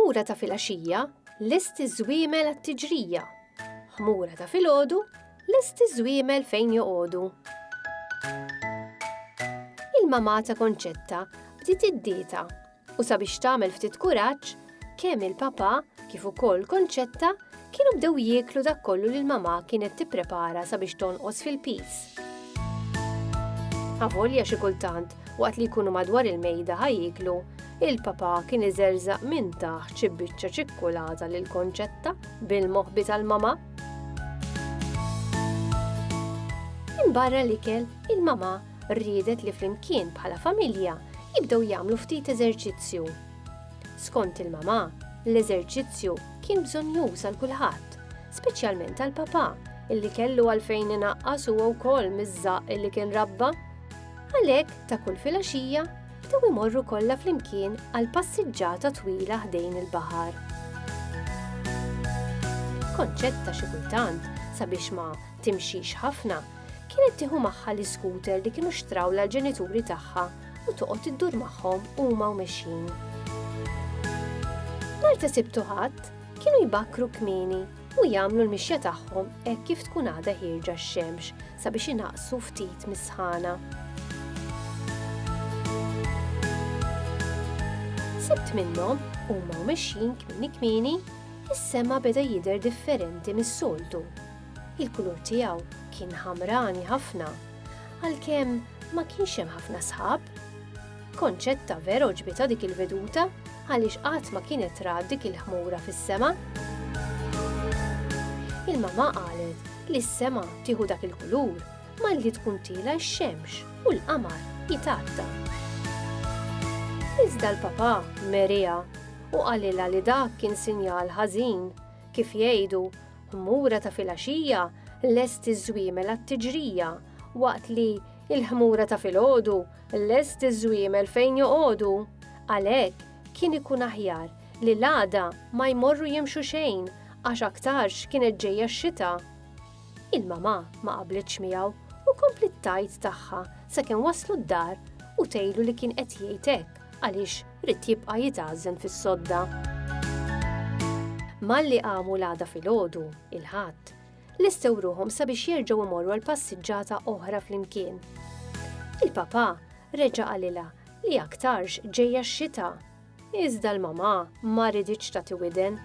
ħmura ta' filgħaxija lesti żwiemel għat-tiġrija. Ħmura ta' filgħodu lesti żwiemel fejn joqogħdu. Il-mamata konċetta bdiet id-dieta U sabiex tagħmel ftit kuraġġ, kemm il-papà kif ukoll Konċetta kienu bdew jieklu dak kollu li l-mamà kienet tipprepara sabiex tonqos fil-piż. Avolja xi kultant, waqt li jkunu madwar il-mejda ħa jieklu, il-papà kien iżerżaq minn taħt xi biċċa ċikkulata lil Konċetta bil-moħbi tal-mamà. Minn barra l-ikel, il-mamà riedet li flimkien bħala familja jibdew jagħmlu ftit eżerċizzju. Skont il-mamà, l-eżerċizzju kien bżonjuż għal kulħadd, speċjalment għal papà illi kellu għalfejn inaqqas huwa wkoll miż-żaq illi kien rabba. Għalhekk ta' kull filgħaxija bdew imorru kollha flimkien għal passiġġata twila ħdejn il-baħar. Konċett ta' xi kultant sabiex ma timxix ħafna, kienet tieħu magħha l-iskuter li kienu xtraw l-ġenituri tagħha u toqgħod iddur magħhom huma u mexjin. Nar ta' sibtu ħadd kienu jbakkru kmini u jagħmlu l-mixja tagħhom hekk kif tkun għadha ħirġa x-xemx sabiex inaqsu ftit mis-sħana. Sibt minnhom huma mexjin kmini kmini is-sema beda jidher differenti mis-soltu Il-kulur tiegħu kien ħamrani ħafna, għalkemm ma kienx hemm ħafna sħab. Concetta vera għoġbitha dik il-veduta għaliex qatt ma kienet rat dik il-ħmura fis-sema. Il-mamà qalet li s-sema tieħu dak il-kulur malli tkun tiela' x-xemx u l-qamar jitgħatta. Iżda l-papà meriha u qalilha li dak kien sinjal ħażin, kif jgħidu, Ħmura ta' filgħaxija lest iż-żwiemel għat-tiġrija, waqt li l-ħmura ta' filgħodu lest iż-żwiemel fejn joqogħdu. Għalhekk, kien ikun aħjar li l-għada ma jmorru jimxu xejn għax aktarx kienet ġejja x-xita. Il-mamà ma qablitx miegħu u kompliet tgħid tagħha sakemm waslu d-dar u tgħidlu li kien qed jgħid hekk Għaliex ried jibqa' jitgħażżen fis-sodda. Malli qamu l-għada filgħodu, il-Ħadd, lestew ruħhom sabiex jerġgħu imorru għal passiġġata oħra flimkien. Il-papà reġa' qalilha li aktarx ġejja x-xita. Iżda l-mamà ma riditx tagħti widen.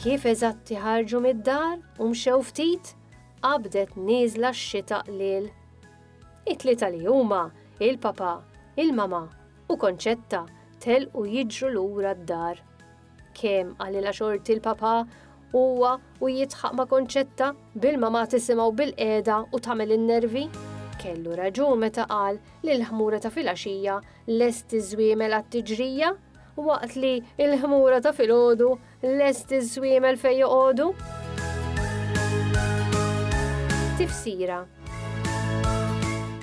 Kif eżatti ħarġu mid-dar u mxew ftit, qabdet nieżla x-xita qliel. It-tlieta li huma, il-papà, il-mamà u Concetta telqu jiġru lura d-dar. Kemm qalilha xorti l-papà, huwa u jidħaq ma' Concetta bil-mamà tisimgħu bilqiegħda u tagħmel in-nervi. Kellu raġun meta qal li l-ħmura ta' filgħaxija lest iż-żwiemel għat-tiġrija waqt li l-ħmura ta' filgħodu Lest iż-żwiemel fejn joqogħdu? Tifsira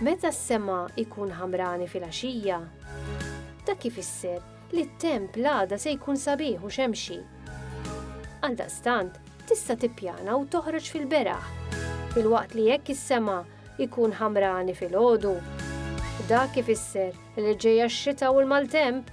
Meta s-sema jkun ħamrani fil-għaxija, da kif isser li t-temp l-għada se jkun sabiħ u xemxi. Għaldaqstant, tista' tippjana u toħroġ fil-beraħ, fil-waqt li jekk is-sema jkun ħamrani fil-ħodu. Da kif isser li ġejja x-xita u l-maltemp